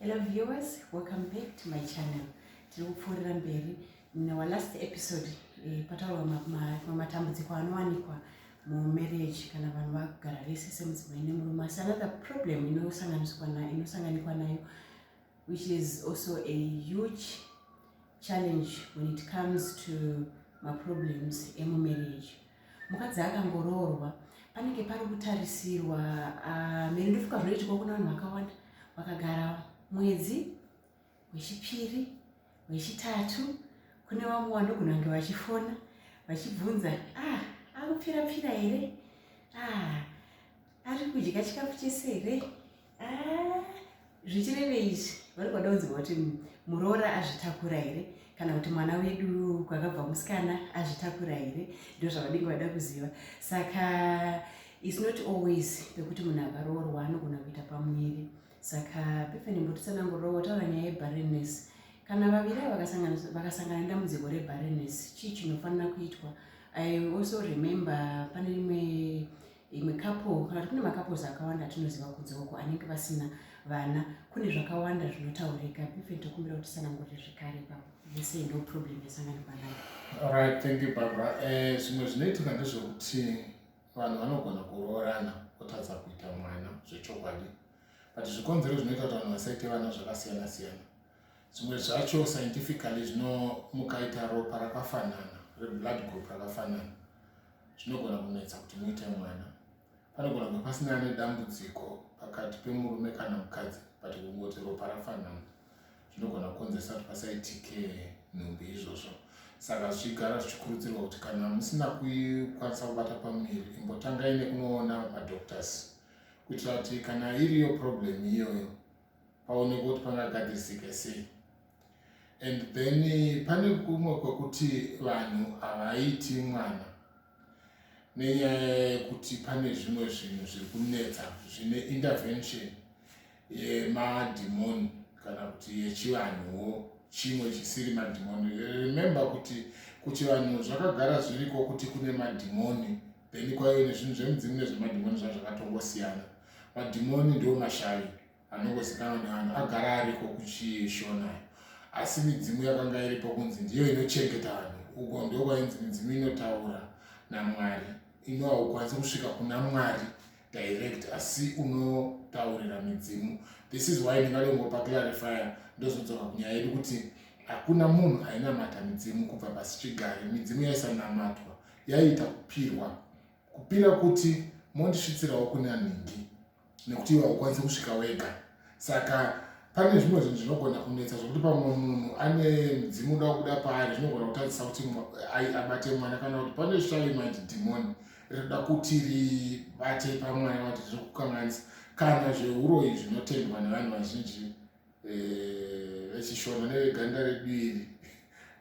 Hello viewers, welcome back to my channel. Tiri kupfuurira mberi in our last episode eh, pataurwa matambudziko anowanikwa mumarriage kana vanhu vagara vese semudzimai nemurume asi another problem inosanganiswa nayo inosanganikwa nayo which is also a huge challenge when it comes to maproblems emumarriage mukadzi akangoroorwa panenge pari kutarisirwa ah, mene ndofuka zvinoitikwa kuna vanhu vakawanda vakagara mwedzi wechipiri wechitatu kune vamwe vanogona kunge vachifona vachibvunza ah akupfira pfira here ah ari kudya chikafu chese here ah, zvichireve izvi vari kwada kunzirwa kuti muroora azvitakura here kana kuti mwana wedu kwakabva musikana azvitakura here ndo zvavadinge vada kuziva saka is not always pekuti munhu akaroorwa anogona kuita pamuviri saka pefeni mbotitsanangurira wataura nyaya yebarenes kana vaviri vakasangana nedambudziko rebarenes chii chinofanira kuitwa i also remember pane rimwe imwe couple kana kuti kune macouples akawanda atinoziva kunze uko anenge vasina vana kune zvakawanda zvinotaurika bifen tokumbira kuti sanangurire zvekare ipapo yese ndo problem yasanganikwa nayo alright thank you barbara eh, zvimwe zvinoitika ndezvekuti vanhu vanogona kuroorana kutadza kuita mwana zvechokwadi but zvikonzero zvinoita kuti vanhu vasaite vana zvakasiyana siyana Zvimwe zvacho scientifically zvino mukaita ropa rakafanana reblood group rakafanana zvinogona kunetsa kuti muite mwana. Panogona kunge pasina nedambudziko pakati pemurume kana mukadzi but kungoti ropa rafanana zvinogona kukonzeresa kuti pasaitike nhumbi izvozvo. Saka zvichigara zvichikurudzirwa kuti kana musina kukwanisa kubata pamuviri imbotangai nekunoona madoctors kuitira kuti kana iriyo problem iyoyo paoneka kuti pangagadzirisike sei and then pane kumwe kwekuti vanhu havaiti mwana nenyaya yekuti pane zvimwe zvinhu zviri kunetsa zvine intervention yemadhimoni kana kuti yechivanhuwo chimwe chisiri madhimoni remember kuti kuchivanhu zvakagara zviriko kuti kune madhimoni then kwaive nezvinhu zvemudzimu nezvemadhimoni zva zvakatongosiyana madhimoni ndiwo mashavi anongozikanwa nevanhu agara ariko kuchishona asi midzimu yakanga iripo kunzi ndiyo inochengeta vanhu uko ndo kwainzi midzimu inotaura namwari ino haukwanisi kusvika kuna mwari direct asi unotaurira midzimu this is why ndingatongopa clarifier ndozodzoka kunyaya yedu kuti hakuna munhu ainamata midzimu kubva pasi chigare midzimu yaisanamatwa yaiita kupirwa kupira kuti mondisvitsirawo kune anhingi nekuti iwe haukwanisi kusvika wega saka pane zvimwe zvinhu zvinogona kunetsa zvokuti pamwe munhu ane mudzimu uda kuda paari zvinogona kutadzisa kuti abate mwana kana kuti pane shalimaid demon rinoda kuti ribate pamwana vati zviri kukanganisa kana zveuroyi zvinotendwa nevanhu vazhinji eh, vechishona neveganda redu iri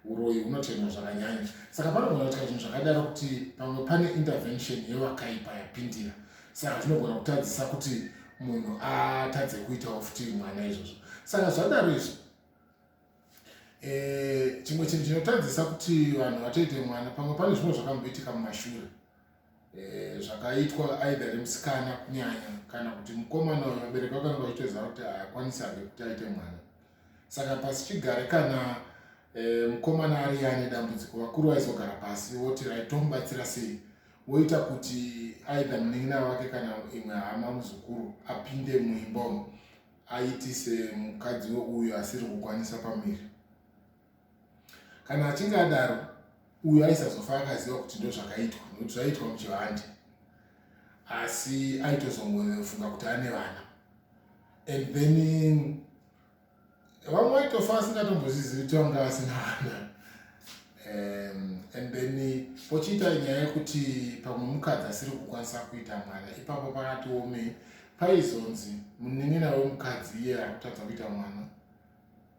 uroyi hunotemwa zvakanyanya saka panogona kuitika zvinhu zvakadaro kuti pamwe pane intervention yevakaipa yapindira saka zvinogona kutadzisa kuti munhu atadze kuitawo futi mwana izvozvo saka zvadaro izvi eh, chimwe chinhu chinotadzisa kuti vanhu vatoite mwana pamwe pane zvimwe zvakamboitika mumashure eh, zvakaitwa aidha nemusikana kunyanya kana kuti mukomana uyo vabereki vakanga vachitoziva kuti haakwanisi ake kuti aite mwana saka pasi chigare kana eh, mukomana ari ane dambudziko vakuru vaizogara pasi voti raitomubatsira sei woita kuti aidha munin'ina wake kana imwe hama muzukuru apinde muimba umu aitise mukadzi weuyo asiri kukwanisa pamiri kana achinge adaro uyo aisazofa akaziva kuti ndozvakaitwa nokuti zvaiitwa muchivande asi aitozongofunga kuti ane vana and then vamwe vaitofa asingatombozizivi kuti vanga vasina vana um, and then pochiita nyaya yekuti pamwe mukadzi asiri kukwanisa kuita mwana ipapo pakatiomei paizonzi munin'ina wemukadzi iye akutadza kuita mwana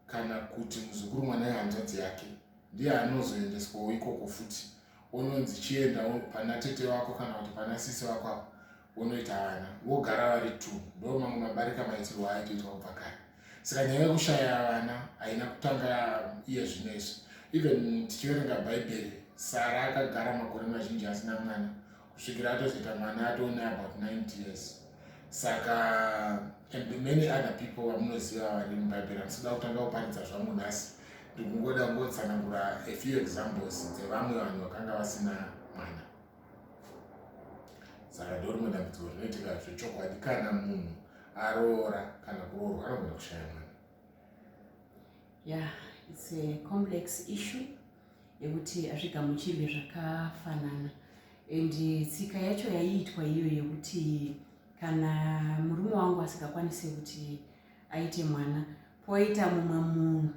kana kuti muzukuru mwana wehanzvadzi yake ndiye anozoendeswawo ikoko futi ononzi chienda pana tete vako kana kuti pana sisi vako apo vonoita vana vogara vari two ndo mamwe mabarika maitirwo aitoitwa kubva kare saka nyaya yekushaya vana haina kutanga iye zvino izvi even tichiverenga bhaibheri sara akagara makore mazhinji asina mwana kusvikira atozoita mwana atoone about 90 years saka and many other people vamunoziva vari mubhaibheri andisida kutanga kuparidza zvangu nhasi ndikungoda kungotsanangura a few examples dzevamwe vanhu vakanga vasina mwana saka ndorimwe dambudziko rinoitika zvechokwadi kana munhu aroora kana kuroorwa anogona kushaya mwana ya yeah, its a complex issue yekuti hazvigamuchirwe zvakafanana and tsika yacho yaiitwa iyo yekuti kana murume wangu asingakwanise kuti aite mwana poita mumwe munhu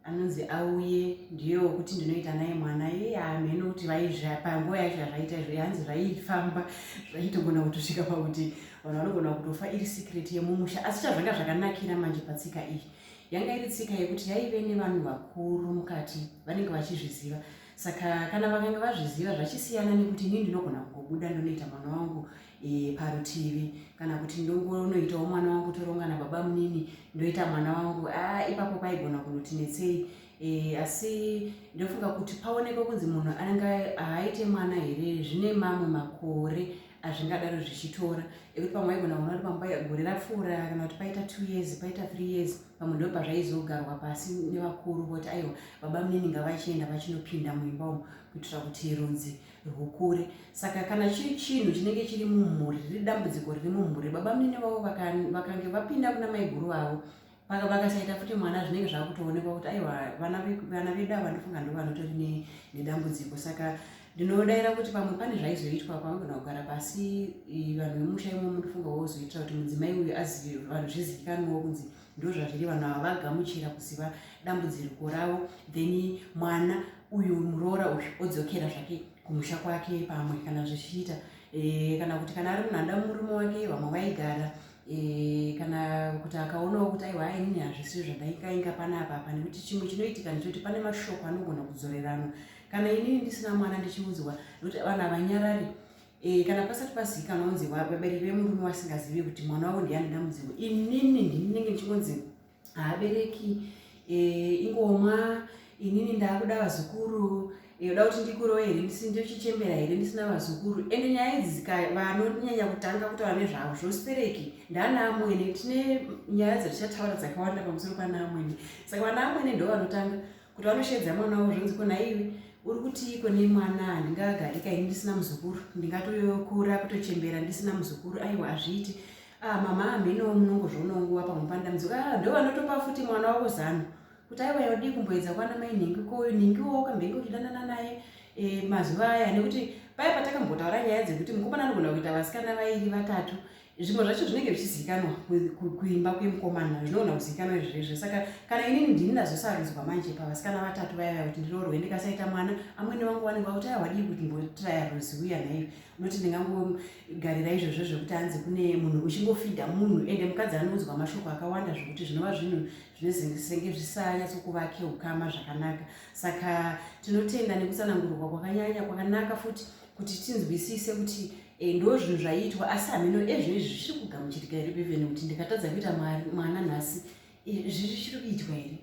anonzi auye ndiyo wekuti ndinoita naye mwana iye hamheno kuti vaipanguva yacho yazvaita izvo yanzi zvaifamba zvaitogona kutosvika pakuti vanhu vanogona kutofa iri secret yemumusha asi chazvanga zvakanakira manje patsika iyi yanga iri tsika yekuti yaive nevanhu vakuru mukati vanenge vachizviziva saka kana vakanga vazviziva zvachisiyana nekuti ini ndinogona kugobuda ndonoita mwana wangu e, parutivi kana kuti ndongonoitawo mwana wangu toronga nababa munini ndoita mwana wangu a ipapo paigona kunoti netsei e, asi ndofunga kuti paonekwe kunzi munhu anenge aaite mwana here zvine mamwe makore hazvingadaro zvichitora ekuti pamwe aigona kuona kuti pamba gore rapfuura kana kuti paita two years paita three years pamwe ndo pazvaizogarwa pasi nevakuru voti aiwa baba munini ngavachienda vachinopinda muimba umu kuitira kuti rudzi rwukure saka kana chiri chinhu chinenge chiri mumhuri riri dambudziko riri mumhuri baba munini vavo vakange vapinda kuna maiguru vavo vakasaita futi mwana zvinenge zvakutoonekwa kuti aiwa vana vedu ava ndofunga ndo vanotori nedambudziko saka ndinodaira kuti pamwe pane zvaizoitwa pamagona kugara pasi vanhu vemusha imo munofunga wozoitira kuti mudzimai uyu azive vanhu zvizivikanwawo kunzi ndo zvazviri vanhu ava vagamuchira kuziva dambudziriko ravo then mwana uyu muroora uyu odzokera zvake kumusha kwake pamwe kana zvichiita eh, kana kuti kana ari munhu anda murume wake vamwe vaigara e, kana kuti akaonawo kuti aiwa ainini hazvisi zvadaikainga panapa apa nekuti chimwe chinoitika ndechoti pane mashoko anogona kudzoreranwa kana inini ndisina mwana ndichiunzwa nekuti vanhu havanyarari e, kana pasati pazivikanwa kunzi vabereki vemurume wasingazivi kuti mwana wavo ndiani ndamuzivo inini ndinenge ndichingonzi haabereki eh, ingomwa inini ndaakuda vazukuru eh, uda kuti ndikurowe here ndisi ndochichembera here ndisina vazukuru ende nyaya idzi vanonyanya kutanga kutaura nezvavo zvostereki ndanaamwene tine nyaya dzatichataura dzakawanda pamusoro panaamwene saka vanaamwene ndo vanotanga kuti vanoshedza mwana wavo zvonzi kona iwe uri kutiiko nemwana handingagarika ini ndisina muzukuru ndingatokura kutochembera ndisina muzukuru aiwa hazviiti Ah mama hameno munongozvionawo nguva pamupandamidzo ka ah, ndovanotopa futi mwana wavo zano kuti aiwa yaudii kumboedza kwana mai nhingi ko nhingi wo kambenge uchidanana naye eh, mazuva aya nekuti paya patakambotaura nyaya dzekuti mukomana anogona kuita vasikana vairi vatatu zvimwe zvacho zvinenge zvichizivikanwa kuimba kwemukomana zvinogona kuzivikanwa izvezvo saka kana inini ndini ndazosarudzwa manje pavasikana vatatu vaya vaya kuti ndiroorwe ndikasaita mwana amwene vangu vanenge vakuti aiwadii kuti mbotiraya ruziuya nhaio unoti ndingango garira izvozvo zvekuti hanzi kune munhu uchingofidha munhu ende mukadzi anoudzwa mashoko akawanda zvekuti zvinova zvinhu zvinesenge zvisanyatsokuvake ukama zvakanaka saka tinotenda nekutsanangurwa kwakanyanya kwakanaka futi kuti tinzwisise kuti eh, ndo zvinhu zvaiitwa asi hameno ezvino izvi zviri kugamuchitika here bevene kuti ndikatadza kuita mwana nhasi eh, zviri chiri kuitwa here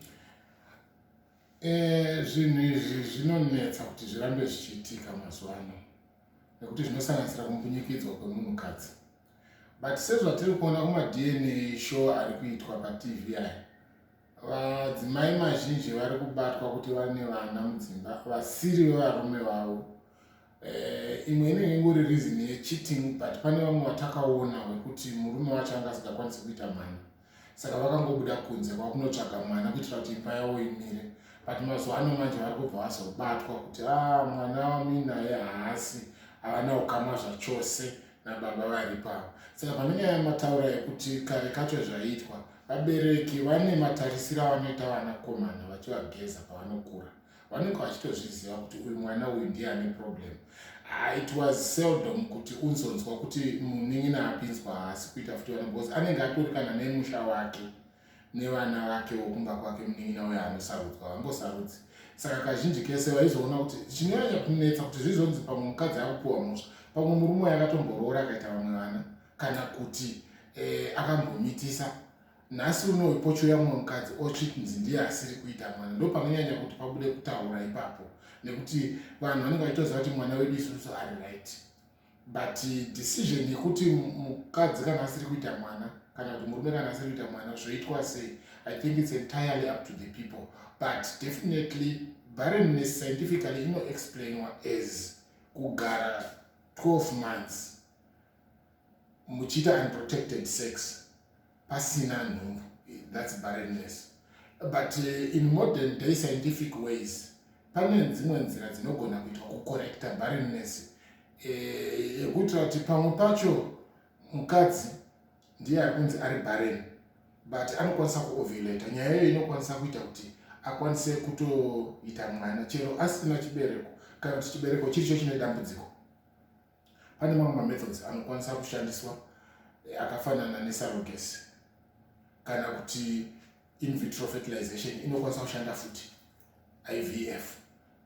eh, zvinhu izvi zvinonetsa kuti zvirambe zvichiitika mazuva ano nekuti zvinosanganisira kumbunyikidzwa kwemunhukadzi but sezvatiri kuona kumadna show ari kuitwa patv aya vadzimai mazhinji vari kubatwa kuti vane vana mudzimba vasiri vevarume vavo eh, imwe inenge ingori reason yecheating but pane vamwe vatakaona wekuti murume wacho anga asingakwanisi kuita mhani saka vakangobuda kunze kwakunotsvaga mwana kuitira kuti imba yavo imire but mazuva ano manje vari kubva vazobatwa kuti a ah, mwana waminaye haasi havana ukama zvachose nababa vari pavo saka pane nyaya yamataura yekuti kare kacho zvaiitwa vabereki vane matarisiro avanoita vanakomana vachivageza pavanokura vanenge vachitozviziva kuti uyu mwana uyu ndiye ane problem ah, it was seldom kuti unzonzwa kuti munin'ina apinzwa haasi kuita futi vana bcause anenge atorikana nemusha wake nevana vake wokumba kwake munin'ina uyo anosarudzwa vangosarudzi saka kazhinji kese vaizoona kuti chinonyanya kunetsa kuti zvizonzi pamwe mukadzi akupiwa musha pamwe murume waye akatomboroora akaita vamwe vana kana kuti eh, akambomitisa nhasi uno ipochouya mumwe mukadzi ochitinzi ndiye asiri kuita mwana ndo panonyanya kuti pabude kutaura ipapo nekuti vanhu vanenge vachitoziva kuti mwana wedu isusu ari right but decision yekuti mukadzi kana asiri kuita mwana kana kuti murume kana asiri kuita mwana zvoitwa sei i think its entirely up to the people but definitely barrenness scientifically inoexplainwa as kugara 12 months muchiita unprotected sex pasina nhumbu that's barrenness but uh, in modern day scientific ways pane dzimwe nzira dzinogona kuitwa kucorrecta barrenness eh, yekuitira kuti pamwe pacho mukadzi ndiye ari kunzi ari barren but anokwanisa kuovulata nyaya iyoyo inokwanisa kuita kuti akwanise kutoita mwana chero asina chibereko kana kuti chibereko chiricho chine dambudziko Pane mamwe mamethods anokwanisa kushandiswa eh, akafanana nesurrogacy kana kuti in vitro fertilization inokwanisa kushanda futi ivf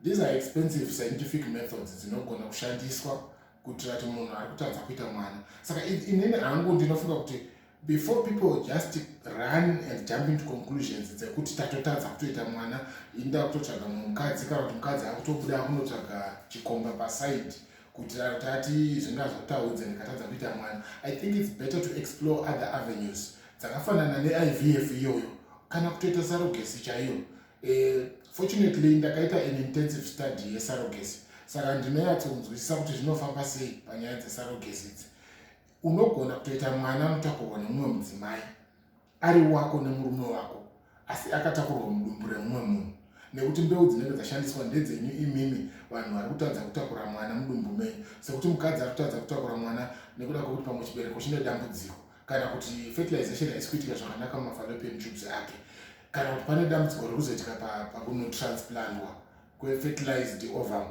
these are expensive scientific methods dzinogona kushandiswa kuitira kuti munhu ari kutadza kuita mwana saka inini hangu ndinofunga kuti before people just run and jump into conclusions dzekuti tatotadza kutoita mwana inda kutotsvaga mumwe mukadzi kana kuti mukadzi akutobuda akunotsvaga chikomba paside kuti tati zvinga zvataudza ndikatadza kuita mwana i think its better to explore other avenues dzakafanana neivf iyoyo kana kutoita sarogesi chaiyo eh, fortunately ndakaita an intensive study yesarogesi saka ndinoyatsonzwisisa kuti zvinofamba sei panyaya dzesarogesi idzi Unogona kutoita mwana anotakurwa nemumwe mudzimai ari wako nemurume wako asi akatakurwa mudumbu remumwe munhu nekuti mbeu dzinenge dzashandiswa ndedzenyu imimi vanhu vari kutadza kutakura mwana mudumbu menyu sekuti mukadzi ari kutadza kutakura mwana nekuda kwekuti pamwe chibereko chine dambudziko kana kuti fertilization haisi kuitika zvakanaka mumafalopian tubes ake kana kuti pane dambudziko riri kuzoitika pakunotransplandwa kwefertilized ovum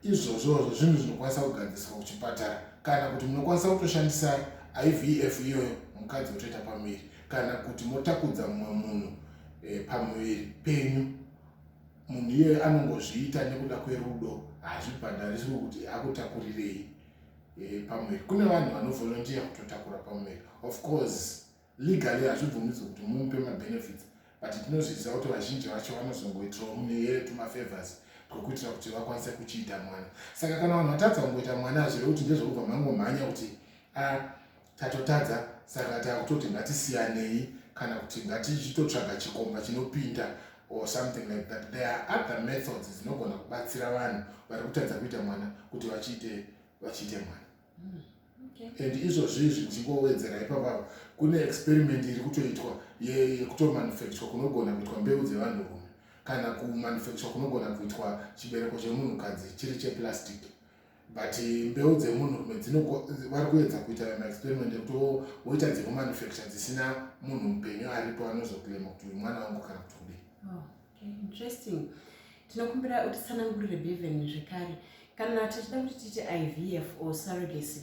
izvozvozvo zvinhu zvinokwanisa kugadziriswa kuchipatara kana kuti munokwanisa kutoshandisa ivf iyoyo mukadzi otoita pamuviri kana kuti motakudza mumwe munhu e, pamuviri penyu munhu iyoyo anongozviita nekuda kwerudo hazvibhadhariswi kuti akutakurirei e, pamuviri kune vanhu vanovolontiya kutotakura pamuviri of course Legally hazvibvumidzwe kuti mumupe mabenefits but tinozviziva kuti vazhinji vacho vanozongoitirawo muneyere tumafavors twekuitira kuti vakwanise kuchiita mwana saka kana vanhu vatadza kungoita mwana hazvire kuti ndezvekubva mangomhanya kuti a ah, tatotadza saka takutoti ngatisiyanei kana kuti ngatichitotsvaga chikomba chinopinda or something like that there are other methods dzinogona kubatsira vanhu vari kutadza kuita mwana kuti vachiite vachiite mwana and izvozvizvi ndichingoowedzera ipapa kune experiment iri kutoitwa yekutomanufacture kunogona kuitwa mbeu dzevanhurume kana kumanufacture kunogona kuitwa chibereko chemunhukadzi chiri cheplastic but mbeu dzemunhurume vari kuedza kuita maexperiment ekutowoita dzekumanufacture dzisina munhu mupenyu aripo anozoclaima kuti uyu mwana wangu kana kuti kudii oh. interesting tinokumbira utitsanangurire beven zvekare kana tichida kuti tiite ivf or surrogacy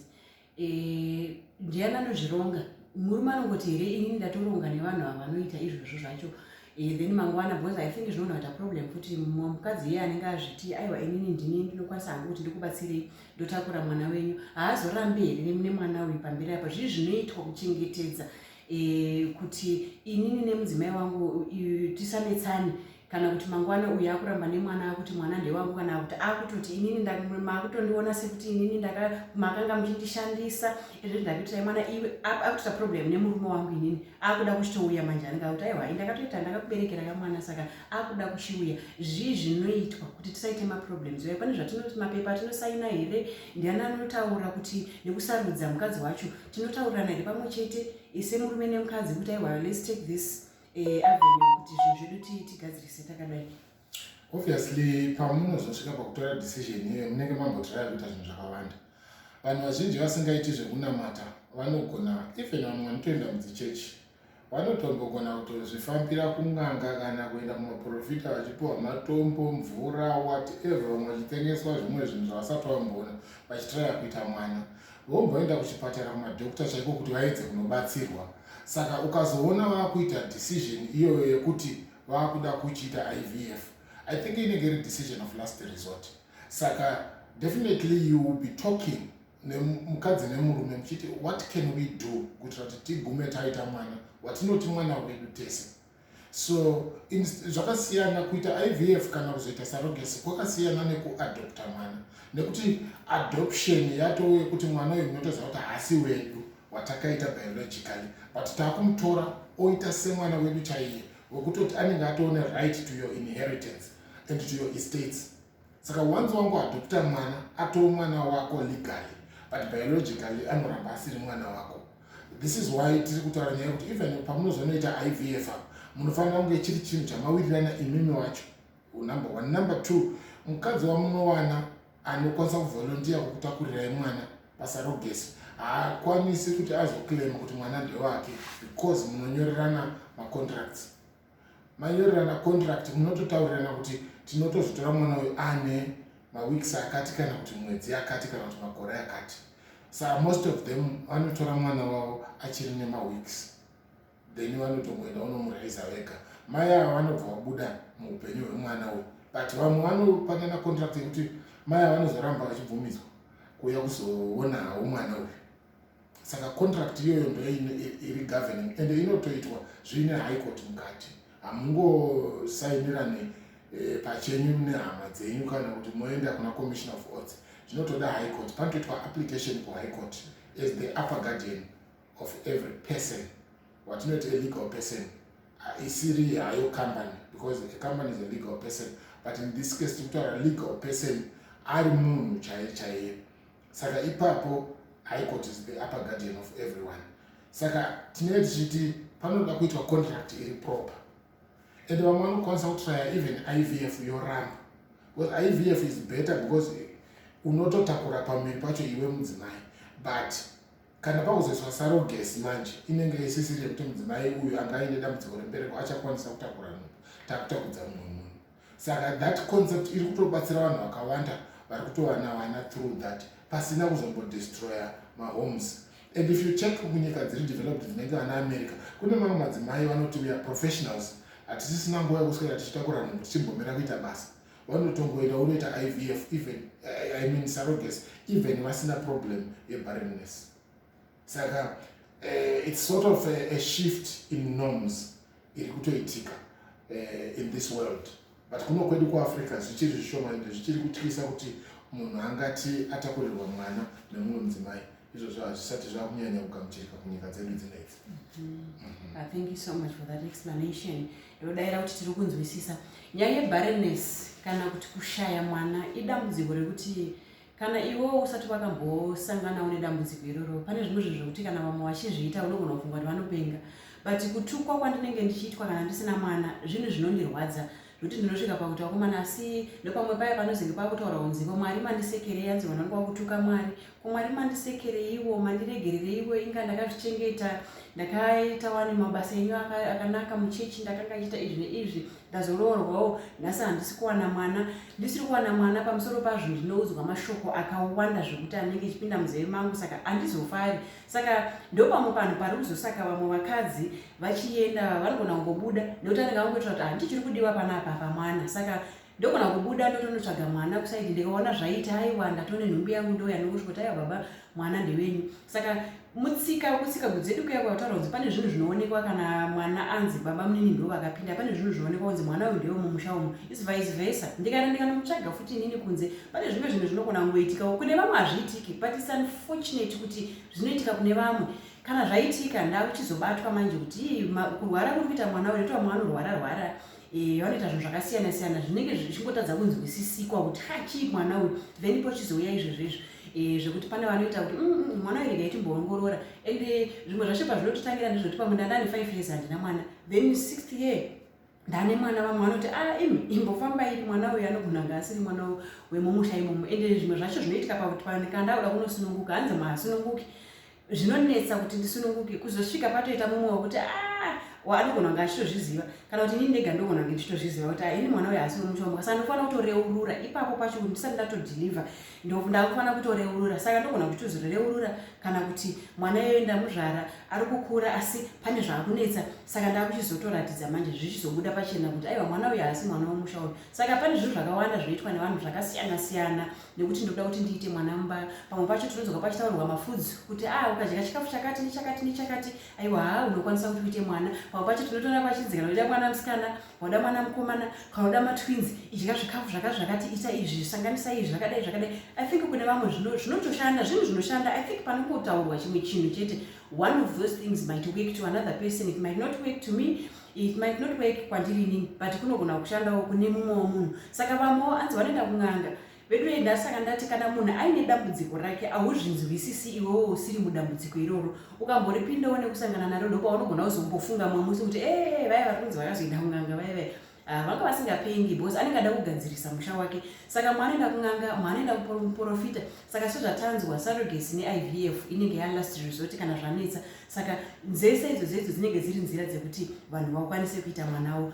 eh, ndiani anozvironga murume anongoti here inini ndatoronga nevanhu ava vanoita izvozvo zvacho eh, then mangwana because i think zvinogona kuita problem futi mumwe mukadzi iye anenge azviti aiwa inini ndini ndinokwanisa hangu kuti ndikubatsirei ndotakura mwana wenyu haazorambi here nemwana uyu pamberi apa zvii zvinoitwa kuchengetedza e, kuti inini nemudzimai wangu tisanetsane kana kuti mangwana uyu akuramba nemwana akuti mwana ndewangu kana kuti akutoti inini makutondiona sekuti inini makanga muchindishandisa izvo ndakutirai mwana iwe akutoita problem nemurume wangu inini akuda kuchitouya manje anenge akuti aiwa ini ndakatoita ndakakuberekera kamwana saka akuda kuchiuya zvii zvinoitwa kuti tisaite maproblems uye pane zvatinoti mapepa atinosaina here ndiani anotaura kuti nekusarudza mukadzi wacho tinotaurirana here pamwe chete ise murume nemukadzi kuti aiwa let's take this eh, avenue kuti zvinhu zvedu tigadzirise takadai obviously pamunozosvika pakutora decision iyoyo munenge mambotiraya kuita zvinhu zvakawanda vanhu vazhinji vasingaiti zvekunamata vanogona even vamwe vanotoenda mudzichechi Vanotombogona kutozvifambira kun'anga kana kuenda kumaporofita vachipiwa matombo, mvura, whatever vamwe vachitengeswa zvimwe zvinhu zvavasati vamboona vachitiraya kuita mwana. Vomboenda kuchipatara kumadokita chaiko kuti vaedze kunobatsirwa. Saka ukazoona vakuita decision iyoyo yekuti vakuda kuchiita IVF, I think inenge iri decision of last resort. Saka definitely you will be talking nemukadzi nemurume muchiti what can we do kuitira kuti tigume taita mwana watinoti mwana wedu tese so zvakasiyana kuita ivf kana kuzoita sarogesi kwakasiyana nekuadopta mwana nekuti adoption yatove yekuti mwana uyu munotoziva kuti haasi wedu watakaita biologically but takumutora oita semwana wedu chaiye wekutoti anenge atoone right to your inheritance and to your estates Saka wanzi wangu adopta mwana atoo mwana wako legally but biologically anoramba asiri mwana wako. This is why tiri kutaura nyaya yekuti even pamunozonoita IVF apa munofanira kunge chiri chinhu chamawirirana imimi wacho number one. Number two, mukadzi wamunowana anokwanisa kuvolontiya kukutakurira imwana pasarogesi haakwanisi kuti azoclaima kuti mwana ndewake because munonyorerana macontracts mayorerana contract munototaurirana kuti tinotozvitora mwana uyu ane maweeks akati kana kuti mwedzi yakati kana kuti makore akati sa most of them vanotora mwana wavo achiri nemaweeks then vanotongoenda unomuraiza vega mai ava vanobva vabuda muupenyu hwemwana uyu but vamwe vanopanana contract yekuti mai ava vanozoramba vachibvumidzwa kuuya kuzoona hawo mwana uyu saka contract iyoyo ndo iri governing ende inotoitwa zviine high court mukati hamungosainirane eh, pachenyu nehama dzenyu kana kuti moenda kuna commission of oats zvinotoda high court panotoitwa application kuhigh court as the upper guardian of every person watinoita alegal person isiri hayo company because a company is a legal person but in this case tikutaura legal person ari munhu chaiye chaiye saka ipapo high court is the upper guardian of everyone saka tinenge tichiti panoda kuitwa contract iri proper and vamwe vanokwanisa kutraya even ivf yoramba because ivf is better because unototakura pamiri pacho iwe mudzimai but kana pakuzoiswa sarogesi manje inenge isisiri yekuti mudzimai uyu anga aine dambudziko rembereko achakwanisa kutakura nhumbu takutakudza mumwe munhu Saka that concept iri kutobatsira vanhu vakawanda vari kutowanawana through that pasina kuzombodestroya mahomes and if you check munyika dziri developed dzinenge vana america kune mamwe madzimai vanoti weare professionals hatisisina nguva yekuswera tichitakura munhu tichimbomira kuita basa vanotongoenda unoita ivf even eh, i mean saroges even vasina problem yebarrenness saka uh, it's sort of a, a shift in norms iri kutoitika uh, in this world but kuno kwedu kuafrica zvichiri zvishoma ende zvichiri kutyisa kuti munhu angati atakurirwa mwana nemumwe mudzimai izvozvo hazvisati zvava kunyanya kugamuchirika kunyika dzedu dzinedzi mm-hmm. ah, thank you so much for that explanation ndodaira kuti tiri kunzwisisa nyaya yebarenes kana kuti kushaya mwana idambudziko rekuti Kana iwewo usati wakambosanganawo nedambudziko iroro, pane zvimwe zvinhu zvekuti kana vamwe vachizviita unogona kufunga kuti vanopenga. But kutukwa kwandinenge ndichiitwa kana ndisina mwana zvinhu zvinondirwadza zvekuti ndinosvika pakuti vakomana asi nepamwe paya panozenge pakutaura kunzi ko mwari mandisekerei anzi vanhu vangu vakutuka mwari ko mwari mandisekereiwo mandiregerereiwo inga ndakazvichengeta ndakaita wani mabasa enyu akanaka muchechi ndakanga ichiita izvi neizvi ndazoroorwawo nhasi handisi kuwana mwana ndisiri kuwana mwana pamusoro pazvo ndinoudzwa mashoko akawanda zvekuti anenge ichipinda muzeve mangu saka handizofari saka ndopamwe panhu pari kuzosaka vamwe vakadzi vachienda vanogona kungobuda nekuti anenge angoitira kuti handichiri kudiwa pana apa pa mwana saka ndogona kubuda ndotonotsvaga mwana kusaidi ndikaona zvaita aiwa ndatone nhumbi yangu ndouya nokuzvikuti aiwa baba mwana ndewenyu saka mutsika kutsika kudzedu kuya kwakutaura kunzi pane zvinhu zvinoonekwa kana mwana anzi baba munini ndo vakapinda pane zvinhu zvinoonekwa kunzi mwana uyu ndewe mumusha umu is vice versa ndikana ndikanomutsvaga futi inini kunze pane zvimwe zvinhu zvinogona kungoitikawo kune vamwe hazviitiki but is unfortunate kuti zvinoitika kune vamwe kana zvaitika ndakuchizobatwa manje kuti kurwara kuri kuita mwana uyu ndotoa mwana anorwara rwara Eh, vanoita zvinhu zvakasiyana siyana zvinenge zvichingotadza kunzwisisikwa kuti ha chii mwana uyu then pochizouya izvezvezvo eh, zvekuti pane vanoita kuti mm, mm, mm, mwana uyu regai timboongorora and eh, zvimwe zvacho pazvinototangira ndezvekuti pamwe ndandane five years handina mwana then sixth year ndane mwana vamwe vanoti a ah, imi imbofambai mwana uyu anogona nga asiri mwana wemumusha imomo ende zvimwe zvacho zvinoitika pakuti panikandauda kunosununguka hanzi mahasununguki zvinonetsa kuti ndisununguke kuzosvika patoita mumwe wekuti ah, anogona kunge achitozviziva kana kuti ini ndega ndogona kunge ndichitozviziva kuti ah, ini mwana uyo haasi wemuchombo saka ndofanira kutoreurura ipapo pacho kuti ndisati ndatodhilivha ndakufanira kutoreurura saka ndogona kuti tozoreurura kana kuti mwana iyoyo ndamuzvara ari kukura asi pane zvaakunetsa saka ndakuchizotoratidza manje zvichizobuda pachena kuti aiwa mwana uyo haasi mwana wemusha uyo saka pane zvinhu zvakawanda zvoitwa nevanhu zvakasiyana siyana nekuti ndinoda kuti ndiite mwana mumba pamwe pacho tinodzoka pachitaurwa mafudzi kuti a ah, ukadya chikafu chakati nechakati nechakati aiwa haa unokwanisa kuti uite mwana pamwe pacho tinotoona pachinzika noida mwana musikana wauda mwana mukomana kana uda matwins idya zvikafu zvaka zvakati ita izvi sanganisa izvi zvakadai zvakadai i think kune vamwe zvinotoshanda zvinhu zvinoshanda i think panongotaurwa chimwe chinhu chete one of those things might work to another person it might not work to me It might not work kwandiri inini but kunogona kushandawo kune mumwewo munhu saka vamwewo anzi vanoenda kun'anga veduye ndasaka ndati kana munhu aine dambudziko rake ahuzvinzwisisi iwewo usiri mudambudziko iroro ukamboripindawo nekusangana naro ndopa unogona kuzombofunga mwe musi kuti ee vaya vari kunzi vakazoenda kun'anga vaya vaya ah, vanga vasingapengi because anenge ada kugadzirisa musha wake saka mwaanoenda kun'anga mwaanoenda kuprofita saka sezvatanzwa sarogesi neivf inenge yalast resort kana zvanetsa saka nzese idzo zvedzo dzinenge dziri nzira dzekuti vanhu vakwanise kuita mwana wo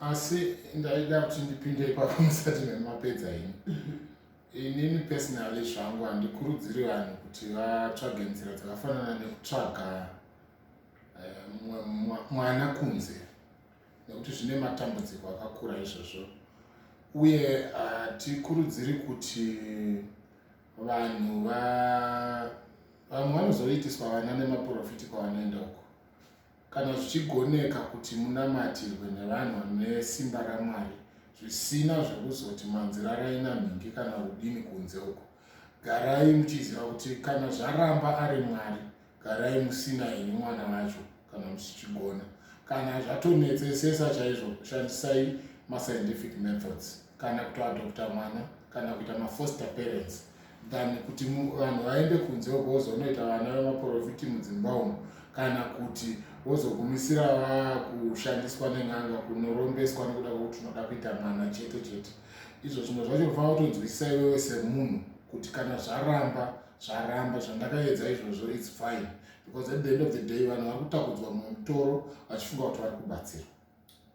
asi ndaida kuti ndipinde ipapo musati memapedza ini mhm. inini personally zvangu handikurudziri vanhu kuti vatsvage nzira dzakafanana nekutsvaga eh, mwana kunze nekuti zvine matambudziko akakura izvozvo uye hatikurudziri kuti vanhu va vamwe vanozoitiswa vana nemaporofiti kwavanoenda uko kana zvichigoneka kuti munamatirwe nevanhu vane simba ramwari zvisina zvekuzoti manzirarai namhingi kana udini kunze uko garai muchiziva kuti kana zvaramba ari mwari garai musina ini mwana vacho kana musichigona kana zvatonetsesesa chaizvo shandisai mascientific methods kana kutoadopta mwana kana kuita mafoster parents than kuti vanhu vaende kunze uko vozonoita vana vemaprofiti mudzimba umo kana kuti vozogumisira vakushandiswa nen'anga kunorombeswa nekuda kwekuti unoda kuita mwana chete chete izvo zvimwe zvacho unofanira kutonzwisisa iwewe semunhu kuti kana zvaramba zvaramba zvandakaedza izvozvo its fine because at the end of the day vanhu vari kutakudzwa mumutoro vachifunga kuti vari kubatsirwa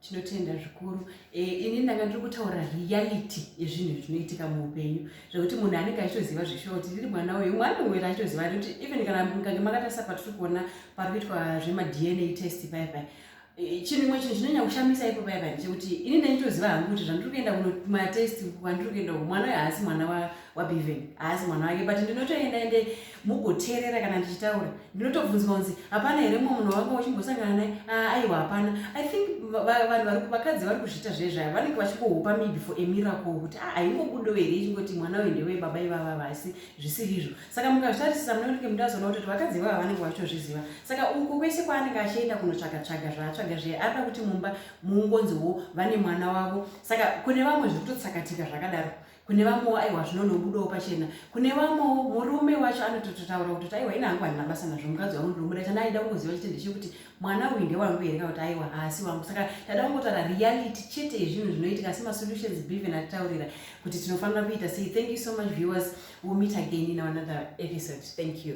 tinotenda zvikuru e, ini ndanga ndiri kutaura reality yezvinhu zvinoitika muupenyu zvekuti munhu anenge achitoziva zveshuwa kuti ndiri mwana uyu mwana uyu achitoziva kuti even kana mukange makatarisa patiri kuona pari kuitwa zvemadna test paipai Eh, chinhu imwe chinhu chinonyanya kushamisa ipo paya paya chekuti ini ndaitoziva hangu kuti zvandiri kuenda kunomatest kwandiri kuenda ku mwana uyo haasi mwana wabeven haasi mwana wake but ndinotoenda ende mugoteerera kana ndichitaura ndinotobvunzwa kunzi hapana here mumwe munhu wanga wachimbosangana naye ah, aiwa hapana i think vanhu vakadzi vari kuzviita zvezvaya vanenge vachingohupa maybe for a miracle kuti ah, aingobudo here ichingoti mwana uyo ndewebaba ivava vasi zvisiri izvo saka mukazvitarisisa munenge mudazoona kuti vakadzi vavo vanenge vachitozviziva saka uko kwese kwaanenge achienda kunotsvaga tsvaga zvaatsvaga zviye arida kuti mumba muungonziwo vane mwana wavo saka kune vamwe zviri kutotsakatika zvakadaro kune vamwewo aiwa zvinonobudawo pachena kune vamwewo murume wacho anotototaura kuti aiwa ina hangu handina basa nazvo mukadzi wangu ndinomuda chana aida kuziva chitende chekuti mwana uyu ndewangu here kana kuti aiwa haasi wangu saka tada kungotaura reality chete yezvinhu zvinoitika asi masolutions beven atitaurira kuti tinofanira kuita sei thank you so much viewers will meet again in another episode thank you